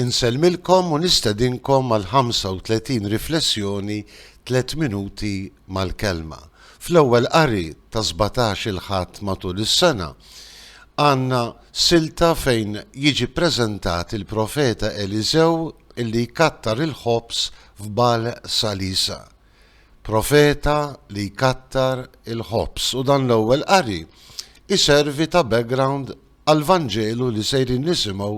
Insellmilkom u nistedinkom għal 35 riflessjoni tliet minuti mal-Kelma. Fl-ewwel qari ta' 17 il-Ħadd matul is-sena, għandna silta fejn jiġi ppreżentat il-Profeta Eliżew li jkattar il-ħobż f'Bal Salisa. Profeta li jkattar il-ħobż u dan l-ewwel qari iservi ta' background għall-Vanġelu li sejrin nisimgħu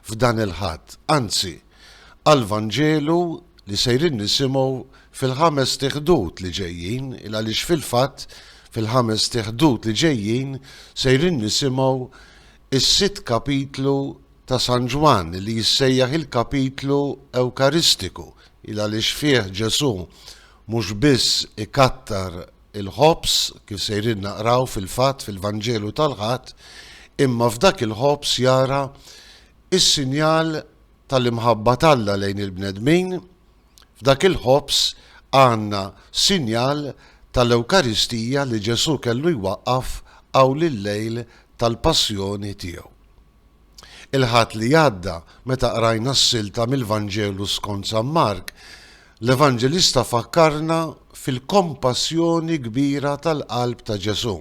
f'dan il-Ħadd, anzi, għall-Vanġelu li sejrin nisimgħu fil-ħamest Ħdud li ġejjin, il-għaliex fil-fatt, fil-ħamest Ħdud li ġejjin sejrin nisimgħu s-sitt kapitlu ta' San Ġwann li jissejjaħ il-kapitlu Ewkaristiku, il-għaliex fih Ġesù mhux biss ikattar Il-ħobż, kif sejrin naqraw fil-fatt fil-Vanġelu tal-Ħadd, imma f'dak il-ħobż jara s-sinjal tal-imħabba t'Alla lejn il-bnedmin, f'dak il-ħobż għandna sinjal tal-Ewkaristija li Ġesù kellu jwaqqaf hawn il-lejl tal-Passjoni tiegħu. Il-Ħadd li għadda, meta qrajna s-silta mill-Vanġelu skont San Mark, l-Evanġelista fakkarna fil-kompassjoni kbira tal-qalb ta' Ġesù.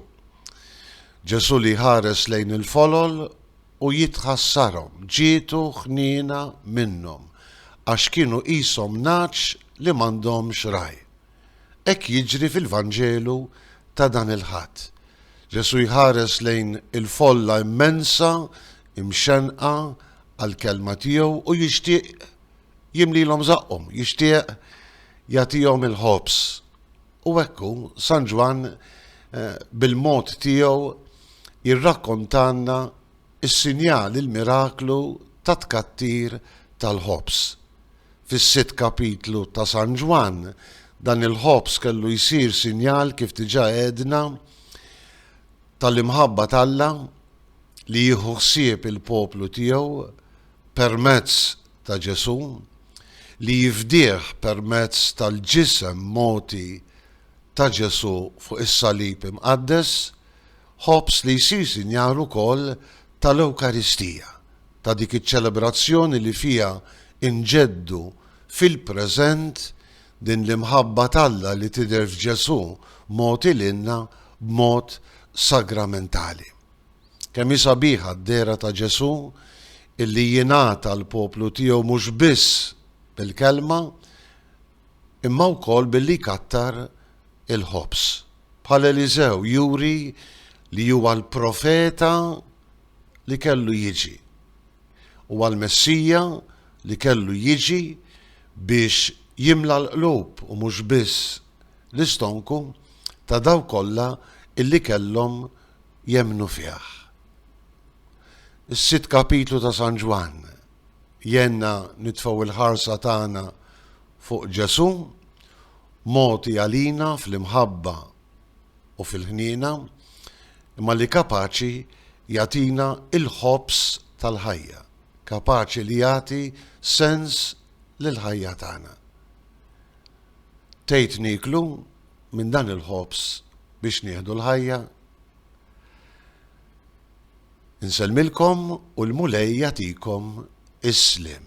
Ġesù li jħares lejn il-folol u jitħassarhom, ġietu ħniena minnhom, għax kienu qishom nagħaġ li m'għandhomx ragħaj. Hekk jiġri fil-Vanġelu ta' dan il-Ħadd. Ġesù jħares lejn il-folla immensa imxennqa għall-kelma tiegħu u jixtieq jimlilhom żaqqhom, jixtieq jagħtihom il-ħobż. U hekk hu, San Ġwann bil-mod tiegħu jirrakkontalna Is-sinjal, il-miraklu tat-tkattir tal-ħobż. Fis-sitt kapitlu ta' San Ġwann, dan il-ħobż kellu jsir sinjal, kif diġà għedna, tal-imħabba t'Alla li jieħu ħsieb il-poplu tiegħu permezz ta' Ġesù, li jifdih permezz tal-ġisem mogħti ta' Ġesù fuq is-salib imqaddes Ħobż li jsir sinjal ukoll tal-Ewkaristija, ta' dik iċ-ċelebrazzjoni li fiha nġeddu fil-preżent din l-imħabba t'Alla li tidher f'Ġesù mogħti lilna b'mod sagramentali. Kemm hi sabiħa d-dehra ta' Ġesù illi jingħata l-poplu tiegħu mhux biss bil-kelma, imma wkoll billi jkattar il-ħobż. Bħal Eliżew juri li huwa l-profeta li kellu jiġi. Huwa l-Messija li kellu jiġi biex jimla l-qlub u mhux biss l-istonku ta' dawk kollha illi kellhom jemmnu fih. Is-sitt kapitlu ta' San Ġwann jgħinna nitfgħu il-ħarsa tagħna fuq Ġesù, mogħti għalina fl-imħabba u fil-ħniena, imma li kapaċi jagħtina l-ħobż tal-ħajja, kapaċi li jagħti sens lill-ħajja tagħna. Tgħid nieklu minn dan il-ħobż biex nieħdu l-ħajja? Nsellmilkom u l-Mulej jagħtikom is-sliem.